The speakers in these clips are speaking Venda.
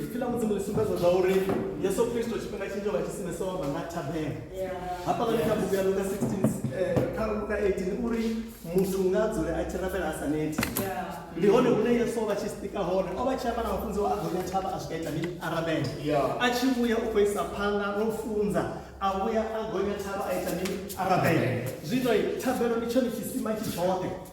ipfi ḽa mudzimu ḽi sumbedza zwa uri yesu kristo tshifhinga tshinzhi vha tshi simesa wa vha na thabela hafhaḽani kha bugu ya luka 16 kha luka 18 uri muthu nga a dzule a tshi rabela a sa neti ndi hone hune yesu o vha tshi sika hone o vha tshi amba na mafunzi wa a gonya thavha a swika ita mini a rabela a tshi vhuya u khou isa phanḓa no funza a vhuya a gonya thavha a ita mini a rabela zwino thabelo ndi tshone tshisima tshi tshoṱhe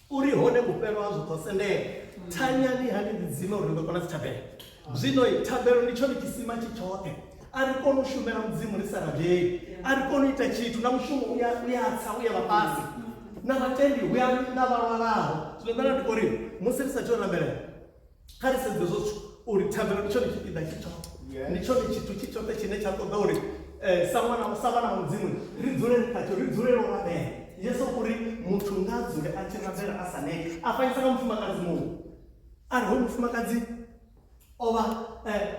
U ri hone vhufhelo hazwo ḓo sendela. Thanyani ha ni ḓidzima uri ni ḓo kona dzithabelo. Zwino-i, thabelo ndi tshone tshisima tshi tshoṱhe. A ri koni u shumela Mudzimu ri sa rabeli. A ri koni u ita tshithu, na mushumo u ya, u ya tsa, u ya vha fhasi. Na vhatendi hu ya na vha lwalaho. Zwino nṋe nda ndi khou ri, musi ri sa athu u rabelela, kha ri sedze zwo uri thabelo ndi tshone tshipiḓa tshi tshoṱhe ndi tshone tshithu tshi tshoṱhe tshine tsha ṱoḓa uri um sa ṅwana sa vhana vha mudzimu ri dzule ri khatsho ri dzulele u rabela yesu uri muthu nga a dzule a tshi rabela a sa neke a fanyisa nga mufumakadzi muṅwe a ri ho mufumakadzi o vha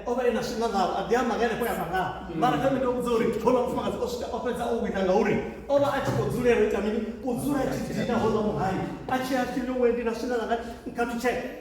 o vha e na swinga ngavho a ḓi amba nga henefho ya mangavho mara kha mito vhudza uri houḽa mufumakadzi o swika o fhedza o wina ngauri o vha a tshi khou dzulela u ita mini u dzula a tshi dina houḽa muhali a tshi a tshi ḽiwe ndi na swinga langa kha lutsheke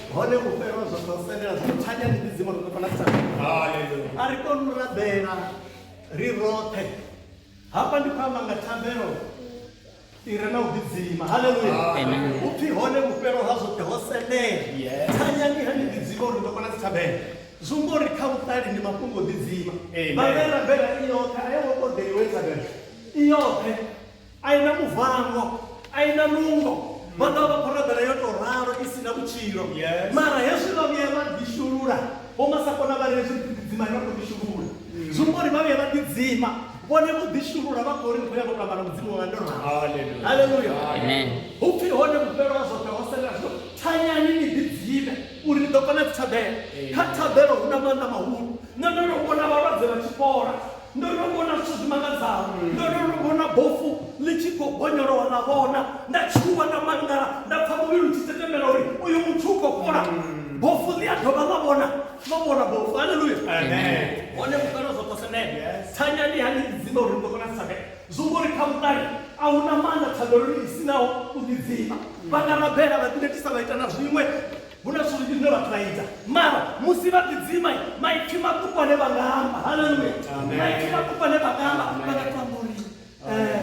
hone u fhelwa zwa sa selela zwo thanya ndi dzidzima ro fana sa a ri koni u rabela ri roṱhe hafha ndi khou amba nga thambelo i re na u ḓidzima halleluya u pfhi hone vhufhelo ha zwoṱhe ho sendela thanyani ha ni ḓidzima uri ndo kona dzi thabela zumbo ri kha vhuṱali ndi mafhungo ḓidzima vha vhe rabela i yoṱhe a yo ngo ṱoḓeliwe thabela i yoṱhe A i na muvango, a i na nungo, vha ḓo vha vha khou rabela yo tou ralo i si na vhutshilo. Yes. Mara hezwi vha vhuya vha ḓishulula, vho masakona vha ri hezwi ri ḓidzima ri vha khou ḓishulula. Zwi amba uri vha vhuya vha ḓidzima, vhone vho ḓishulula vha khou ri ri khou ya vho tou amba na Mudzimu wanga ndo ralo. Hallelujah. Haleluya. Amen. Hu pfi hone vhufhelo ha zwoṱhe ho selela zwino thanyani ni ḓidzime uri ni ḓo kona dzithabelo. Kha thabelo hu na maanḓa mahulu. Nṋe ndo no vhona vhalwadze vha tshi fhola. Ndo no vhona zwithu zwi mangadzaho. Ndo no no vhona bofu ḽi tshi khou bonyolowa ḽa vhona. Nda tshuwa, nda mangala, nda pfa muvhili u tshi setemela uri uyu muthu u khou fhola. Bofu ḽi a dovha ḽa vhona, ḽo vhona bofu. Haleluya! Hone vhukale zwo posemela. Thanya ndi hani ḽi dzima uri ni ḓo kona u sabela? Zwi amba uri kha vhukale a hu na maanḓa thabeloni i si naho u ḓidzima. Vha nga rabela, vha ḓinetisa, vha ita na zwiṅwe, hu na zwithu zwinzhi zwine vhathu vha ita mara musi vha ḓidzima maipfi maṱuku ane vha nga amba haleluya maipfi maṱuku ane vha nga amba vha nga tamba uri eh,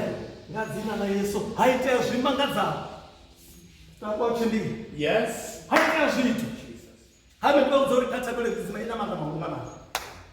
nga dzina ḽa yesu ha itea zwimangadzaho takwatshindii yes ha itea zwithu ha vhe vha udza uri kha thabelo dzidzima i na maga mahulwanaa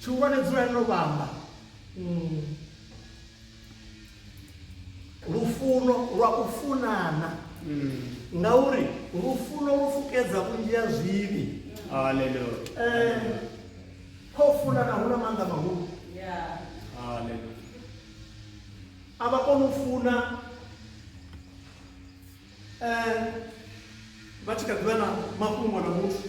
Tshihulwane dzulani no vhamba. Lufuno lwa u funana. Ngauri lufuno lu fukedza vhunzhi ha zwivhi. Haleluya. Kho funana hu na maanḓa mahulu. Haleluya. A vha koni u funa vha tshi kha ḓivha na mafhungo na muthu.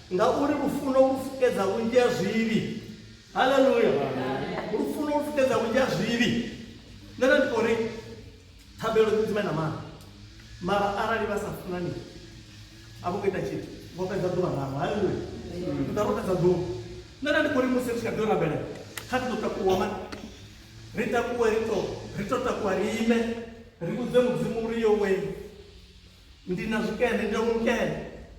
Ngauri lufuno lu fukedza vhunzhi ha zwivhi. Haleluya! Lufuno lu fukedza vhunzhi ha zwivhi. Nṋe nda ndi khou ri thabelo dzi dzime na maanḓa mara arali vha sa funani a vho ngo ita tshithu vho fhedza ḓuvha ḽavho. Haleluya! Ndi ḓa vho fhedza ḓuvha. Nṋe nda ndi khou ri musi ri tshi kha ḓi yo rabelela kha ri ḓo takuwa mani ri takuwe ri to ri to takuwa ri ime ri vhudze mudzimu uri yo wee Ndi na zwikene, ndi na vhumukene.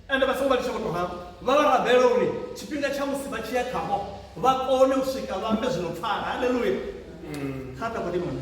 Ende vha songo vha litsha vho tou ralo. Vha vha rabela uri tshifhinga tsha musi vha tshi ya khavho vha kone u swika vha ambe zwi no pfala. Haleluya! Kha ri takuwe dimoni.